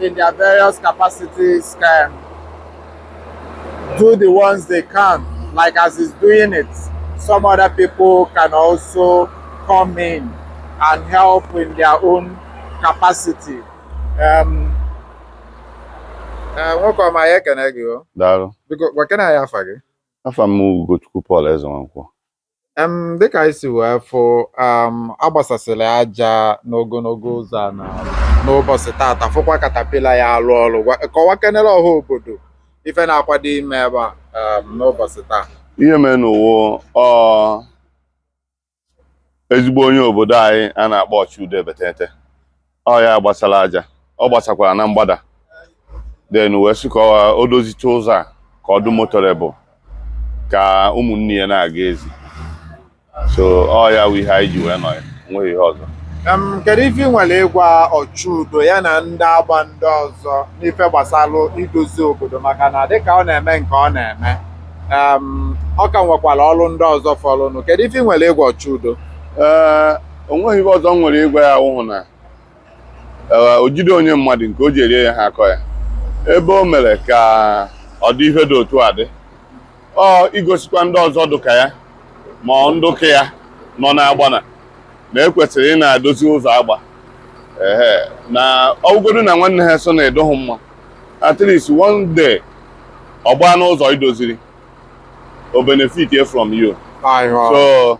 in their various capacities can do the ones they can, like as he's doing it, some other people can also come in and help in their own capacity. Um, eh, nwoke ọma ya ekene gị o daalụ biko gwakena ya afa gị afa m Ugochukwu Paul Ezenwankwọ Em, dịka anyị si wee fụ um, agbasasịrị aja n'ogologo ụzọ a na n'ụbọchị tata fụkwa katapila ya alụ ọrụ Gwa- kọwa kenere ọha obodo ife na-akwado ime ebe a um, n'ụbọchị taa ihe merenụ wụ ọ ezigbo onye obodo anyị a na-akpọ Ọchụudo Ebetete ọ ya gbasara aja ọ gbasakwara na mgbada then wee sị ka ọ- o dozicha ụzọ a ka ọ dị motorable ka ụmụnne ya na-aga ezi so ọ ya wụ ihe anyị ji wee nọ ya nweghị ihe ọzọ Em, kedu ife ị nwere ịgwa ọchụudo ya na ndị Agba ndị ọzọ n'ife gbasalụ idozi obodo maka na dịka ọ na-eme nke ọ na-eme em, ọ ka nwekwara ọrụ ndị ọzọ fọrọnụ kedu ife ị nwere ịgwa ọchụudo Ee, o nweghị ihe ọzọ m nwere ịgwa ya wụhụ na eh, o jide onye mmadụ nke o ji erie ya ha akọ ya ebe o mere ka ọ dị ife dị otu a dị ọ igosikwa ndị ọzọ dị ka ya ma ọ ndị dụka ya nọ n'Agba na na e kwesịrị ịna-edozi ụzọ Agba ehe na ọ wụgodu na nwanne ha so na-edoghị mma at least one day ọ gbaa n'ụzọ i doziri o benefitie from you Aịwa. so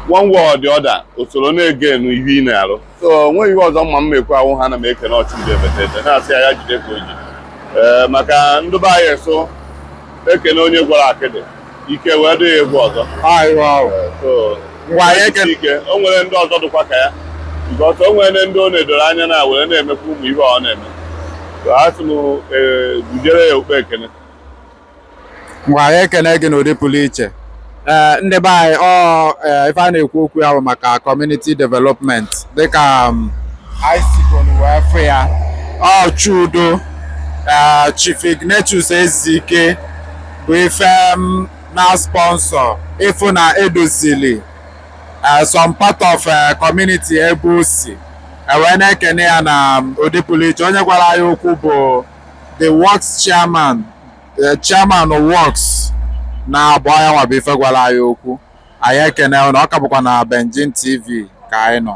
one way or the other o soro na-egain ihe ị na-arụ so o nweghị ihe ọzọ m ma m ma-ekwu awụhụ na m ekene Ọchụudo Ebetete na-asị ya ya jide ka o ji ee maka ndị be anyị so e kene onye gwọrọ akịdị ike wee dị ya ịgwọ ọzọ Aịwa. so ngwa ya eke ike o nwere ndị ọzọ dịkwa ka ya nke ọsọ o nwere ndị ọ na-edoro anya na were na-emekwa ụmụ ihe ọ na-eme So, a sị m ee, gujere ya okpe ekene ngwa anyị ekene gị n'ụdị pụrụ iche ee ndị be anyị ọ ee, ife a na-ekwu okwu ya bụ maka community development dịka um, anyị sikọrọ wee fụ ya Ọchụudo ee, Chief Ignatius Ezike bụ ife um, na-sponsor ịfụ na e dozili eh, some part of eh, community ebe o si e wee na-ekene ya na mm, ụdị pụrụ iche onye gwara anyị okwu bụ the works chairman eh, chairman works na abụ anya nwa bụ ife gwara anyị okwu anyị ekene na ọ ka bụkwa na Benjin TV ka anyị nọ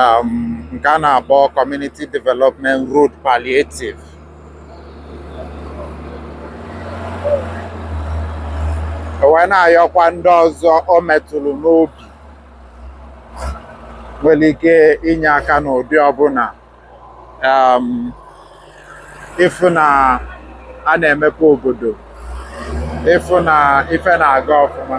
um, nke a na-akpọ Community Development Road Palliative wee na-ayọkwa ndị ọzọ o metụrụ n'obi nwere ike inye aka n'ụdị ọbụla um, ịfụ na a na-emepe obodo ịfụ na ife na-aga ọfụma